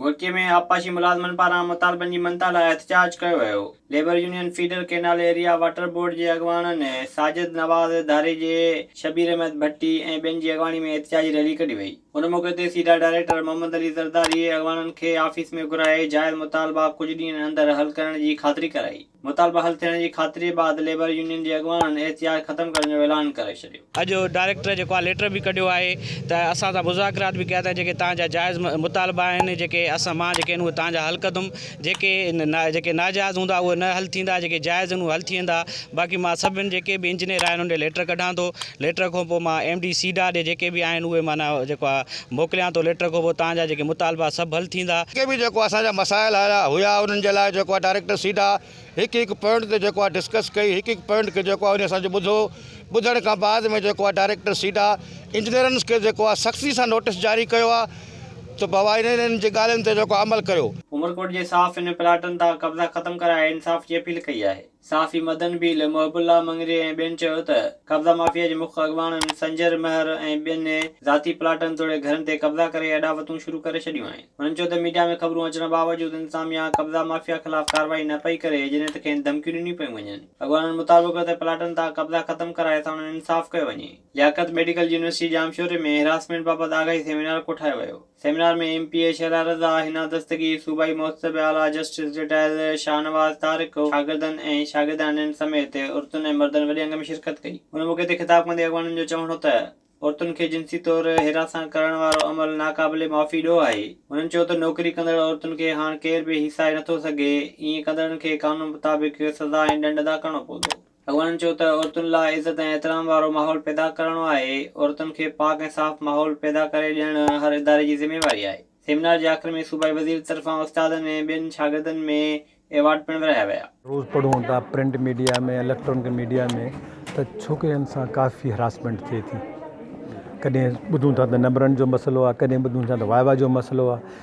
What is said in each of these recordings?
گهوٽڪي ۾ آبپاشي ملازمن پاران مطالبن جي مڃتا لاء احتجاج ڪيو ويو، labour union feeder canal area water board جي اڳواڻن ساجد نواز ڌاريجي، شبير احمد ڀٽي ۽ ٻين جي اڳواڻي ۾ احتجاجي ريلي ڪڍي وئي. ان موقعي تي سيڊا ڊائريڪٽر محمد علي زرداري اڳواڻن کي آفيس ۾ گهرائي جائز مطالبا ڪجهه ڏينهن اندر حل ڪرڻ جي خاطري ڪرائي. مطالبا حل ٿيڻ جي خاطري بعد ليبر يونين جي اڳواڻن احتجاج ختم ڪرڻ جو اعلان ڪري ڇڏيو. اڄ ڊائريڪٽر جيڪو آهي ليٽر به ڪڍيو آهي ته اسان سان مذاڪرات به ڪيا اٿائين جيڪي تان جا جائز مطالبا آهن جيڪي اسان مان جيڪي آهن اهي تان جا حل ڪندم جيڪي جيڪي ناجائز هوندا اهي نه حل ٿيندا جيڪي جائز آهن اهي حل ٿي ويندا باقي مان سڀن جيڪي به انجنيئر آهن انهن ڏي ليٽر ڪڍان ٿو ليٽر کان پوء مان ايم ڊي سيڊا ڏي جيڪي به آهن اهي معنيٰ جيڪو آهي موڪليان ٿو ليٽر ڪوبو تان جا جيڪي مطالبا سڀ حل ٿيندا. جيڪي به جيڪو اسان جا مسائل آيا هيا انهن جي لاء جيڪو آهي ڊائريڪٽر سيڌا هڪ هڪ پوائنٽ تي جيڪو آهي ڊسڪس ڪئي هڪ هڪ پوائنٽ کي جيڪو آهي انهي اسان جو ٻڌو ٻڌڻ کان بعد ۾ جيڪو آهي ڊائريڪٽر سيڊا انجنيئرنس کي جيڪو آهي سختي سان نوٽس جاري ڪيو آهي ته بابا انهن انهن جي ڳالهين تي جيڪو عمل ڪيو. عمرڪوٽ جي صاف انهن پلاٽن تان قبضا ختم ڪرائي انصاف جي اپيل ڪئي آهي. صحافي مدن ڀيل، محب الله مڱري ۽ ٻين چيو ته قبضا مافيا جي مک اڳواڻن سنجر مهر ۽ ٻين ذاتي پلاٽن توڙي گهرن تي قبضا ڪري اڏاوتون شروع ڪري ڇڏيون آهن. هنن چيو ته ميڊيا ۾ خبرون اچڻ باوجود انتظاميا قبضا مافيا خلاف ڪارروائي نه پئي ڪري جڏهن ته کين ڌمڪيون ڏنيون پيون وڃن. اڳواڻن مطابق ته پلاٽن تان قبضا ختم ڪرائي ساڻن انصاف ڪيو وڃي. لياقت ميڊيڪل يونيورسٽي ڄامشوري ۾ هراسمينٽ بابت آگاهي سيمينار ڪوٺايو ويو. Seminar ۾ M P A Shehla Raza, Hina Dastagir, صوبائي محتسب اعليٰ جسٽس رٽائرڊ شاهنواز طارق، شاگردن ۽ شاگردياڻين سميت عورتن ۽ مردن وڏي انگ ۾ شرڪت ڪئي. ان موقعي تي خطاب ڪندي اڳواڻن جو چوڻ هو ته عورتن کي جنسي طور هراسان ڪرڻ وارو عمل ناقابل معافي ڏوهه آهي. هنن چيو ته نوڪري ڪندڙ عورتن کي هاڻ ڪير به هيسائي نٿو سگهي، ائين ڪندڙن کي قانون مطابق سزا ۽ ڏنڊ ادا ڪرڻو پوندو. اڳواڻن چيو ته عورتن لاء عزت ۽ احترام وارو ماحول پيدا ڪرڻو آهي، عورتن کي پاڪ ۽ صاف ماحول پيدا ڪري ڏيڻ هر اداري جي ذميواري آهي، سيمينار جي آخر ۾ صوبائي وزير طرفان استادن ۽ ٻين شاگردن ۾ ايوارڊ پڻ ورهايا ويا. روز پڙهون ٿا پرنٽ ميڊيا ۾ اليڪٽرانڪ ميڊيا ۾ ته ڇوڪرين سان ڪافي هراسمينٽ ٿئي ٿي ڪڏهن ٻڌون ٿا ته نمبرن جو مسئلو آهي ڪڏهن ٻڌون ٿا ته وائوا جو مسئلو آهي.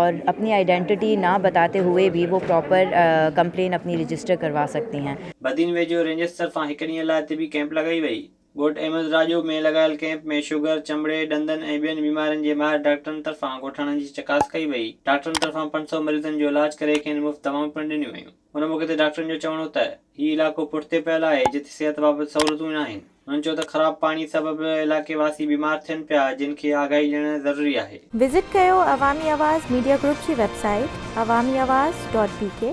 اور اپني آئيڊينٽيٽي نه بتاتي هوئي ڀي وو پراپر ڪمپلين اپني رجسٽر ڪروا سڪتي هين. بدين ويجهو رينجرز طرفان هڪ ڏينهن لاء طبي ڪئمپ لڳائي وئي. ڳوٺ احمد راڄو ۾ لڳايل ڪئمپ ۾ شگر، چمڙي، ڏندن ۽ ٻين بيمارين جي ماهر ڊاڪٽرن طرفان ڳوٺاڻن جي چڪاس ڪئي وئي. ڊاڪٽرن طرفان پنج سؤ مريضن جو علاج ڪري کين مفت دوائون پڻ ڏنيون ويون. ان موقعي تي ڊاڪٽرن جو چوڻ هو ته هي علائقو پٺتي پيل آهي جتي صحت بابت سهولتون ئي ناهن. هنن چيو ته خراب پاڻي سبب علائقي واسي بيمار ٿين پيا جن کي آگاهي ڏيڻ ضروري آهي. وزٽ ڪيو عوامي آواز ميڊيا گروپ جي website Awami Awaz dot بي ڪي.